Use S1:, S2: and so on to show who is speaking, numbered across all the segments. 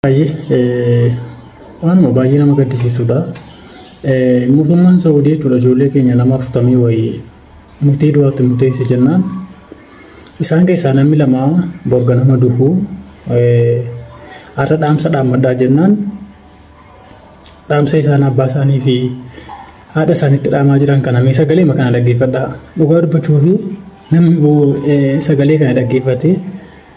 S1: Baay'ee waanuma baay'ee nama gaddisiisudha. Mootummaan Saawudii jechuudha ijoollee keenya nama afurtamii wayii murtii du'aatti murteesse jennaan isaan keessaa namni lama borga nama duhu har'a dhaamsa dhaammadhaa jennaan dhaamsa isaan abbaa isaanii fi haadha isaanitti dhaamaa jiran kana mee sagalee kana dhaggeeffadhaa dhugaa dubbachuu fi namni sagalee kana dhaggeeffatee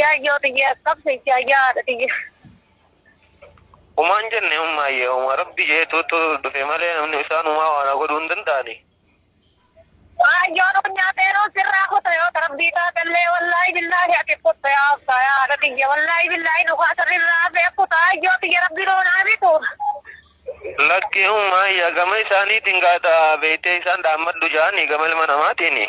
S2: Yaayyoo tiyya qabsa itti ayyaa haadha tiyya. Umaan jenne ummaa yee umaa rabbi jeetuutu dhufe malee namni isaan umaa waana godhuu hin danda'ani. Yaayyoo
S3: nuun nyaatee nuun sirraa kuta yoo rabbii taatellee wallaahi billaahi ati kutta yaa absaa yaa haadha tiyya wallaahi billaahi nu kaasa irraa hafee kuta yaayyoo tiyya rabbi nuun haa bitu.
S2: Lakki ummaa yaa gama isaaniitiin gaata beektee isaan dhaammadhu ja'ani gama ilma namaatiini.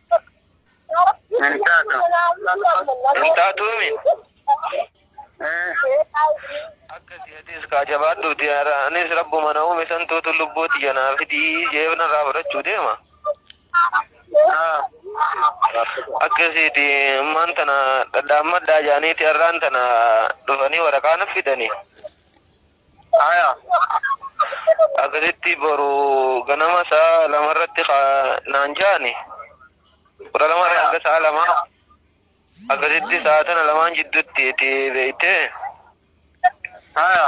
S2: Hin taatu. Hin taatuumi. Akkasi atis kaa jabaadhuuti anis rabbuma na uume santuutu lubbuu tiyya naa fidii jeef narraa fudhachuu deema. Akkasiiti ammaan tana dhadhaammadhaa jaaniiti har'aan tana dhufanii waraqaa na fidanii. Aya. Akkasitti boru ganama sa'a lama irratti ka naan ja'ani. Kudha lama irraa hanga sa'a lama. Akkasitti sa'a tana lamaan jidduutti itti beeyte. Aya.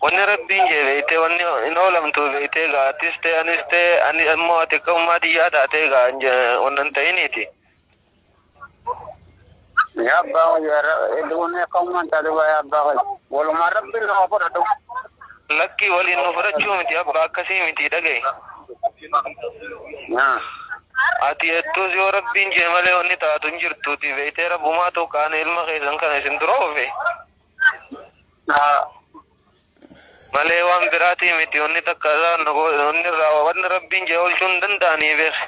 S2: Wanni rabbiin jee beeyte wanni hin oolamtu beeyte gaa atis ta'e anis ta'e ani ammoo ati akka ummaa tiyyaa taatee gaa hin je- wanna hin ta'iniiti.
S4: Yaa abbaa koo yaa ra- hedduu onnee akka uumaan taate baay'ee abbaa koo. Walumaan rabbiin nu haa fudhatu. Lakkii
S2: waliin nu fudhachuu miti abbaa akkasii miti dhaga'i. Yaa. Ati hedduus yoo rabbiin jee malee wanni taatu hin jirtuuti beektee rabbumaa ta'u qaanii ilma keessan kana isin dura oofe. Haa. Malee waan biraatii miti wanni takka isaan wanni irraa wanni rabbiin jee oolchuu hin danda'anii beeku.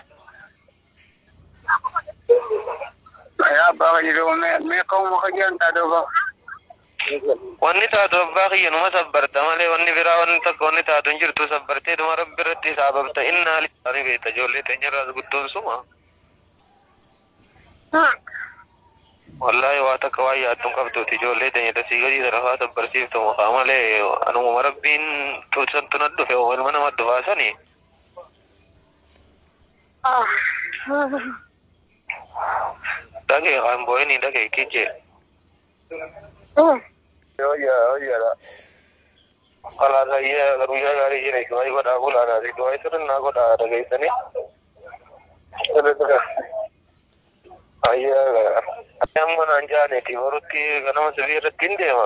S4: Yaa abbaa fayyadoo mee ka'uma fayyaan taatee obaa.
S2: Wanni taatu abbaa kiyya numa sabbarta malee wanni biraa wanni takka wanni taatu hin jirtu sabbartee dhuma rabbi irratti isaa babta innaa lillaani beekta ijoollee teenyarraas guddoon suma. Wallaahi waa takka waan yaaddu hin qabduuti ijoollee teenya dasii gadii sarafaa sabbarsiiftu mukaa malee anuma rabbiin tuusantu na dhufe ilma nama dhufaa sanii. Dhagee kan boo'inii dhagee kijee. Oyya oyyadha. Kalaas ayyee guyyaa gaarii jira du'aayi godhaa bulaadha du'aayi sirnaa godhaa dhageessanii. Ayyee amma naan jaaneeti borutti ganama sirrii irratti hin deema.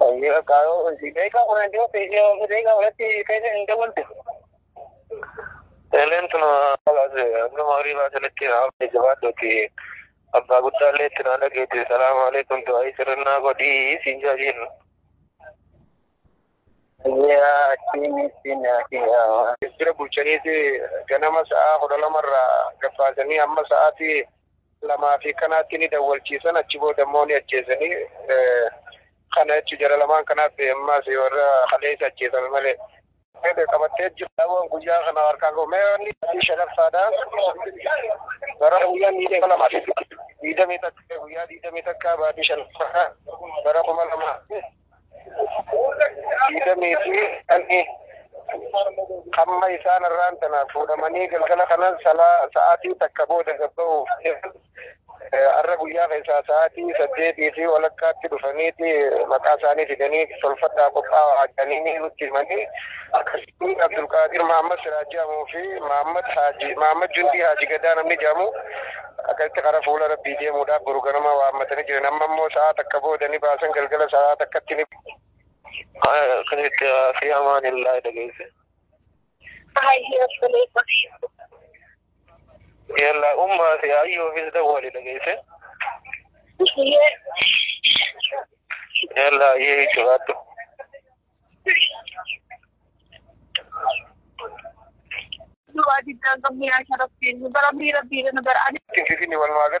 S2: Daqiiqa kudha hin jiru daqiiqa kudhatti keessa hin dabaltu. Eleen tun nama horii baasanitti hafe jabaadhuuti. Abbaa guddaa illee itti naa dhageeti. Salaamu alaikum du'aayi sirrinnaa godhii siin jaajiin. Yaa akkamitti naafiyaa. Jira bulchaniiti ganama sa'aa kudha lamarraa gabbaasanii amma sa'aatii lamaa fi kanaatti ni dawwalchiisan achi booda immoo ni ajjeesanii kana jechu jara lamaan kanaatti ammaas warra kaleessa ajjeesame malee. Eebe qabattee jiru dhabuun guyyaa kana harkaa goomee wanni adii shanaffaadha. Bara guyyaa miidhee lama diidamii takka guyyaa diidamii takka baatii shanaffaadha bara kuma lama. Diidamii fi dhalli hamma isaan irraan tanaaf fuudhamanii galgala kanan salaa sa'aatii takka booda gabba'uuf har'a guyyaa keessaa sa'aatii saddeetii fi walakkaatti dhufaniiti maqaa isaanii fidanii tolfadhaa qophaa'aa jedhanii nutti himanii akkasii Inni Abdulqaadir Mahammad Siraaj jedhamuu fi Mahammad Haaji Mahammad Jundii Haaji Gadaa namni jedhamu akkasitti karaa fuula Rabbii deemuudhaaf boru ganama waammatanii jiran. Amma immoo sa'a takka booda ni baasan galgala sa'a takkatti ni akkasitti fi amaan illaa dhageesse. Yalla ummaa fi ayyoofis dawwali dhageesse. Yalla ayyee jechuudhaattu.
S3: Du'aa diddaan
S2: qabnu
S3: yaa sharaftiin bara miira biira nu bara
S2: ani.
S3: Finfinni walumaa gala.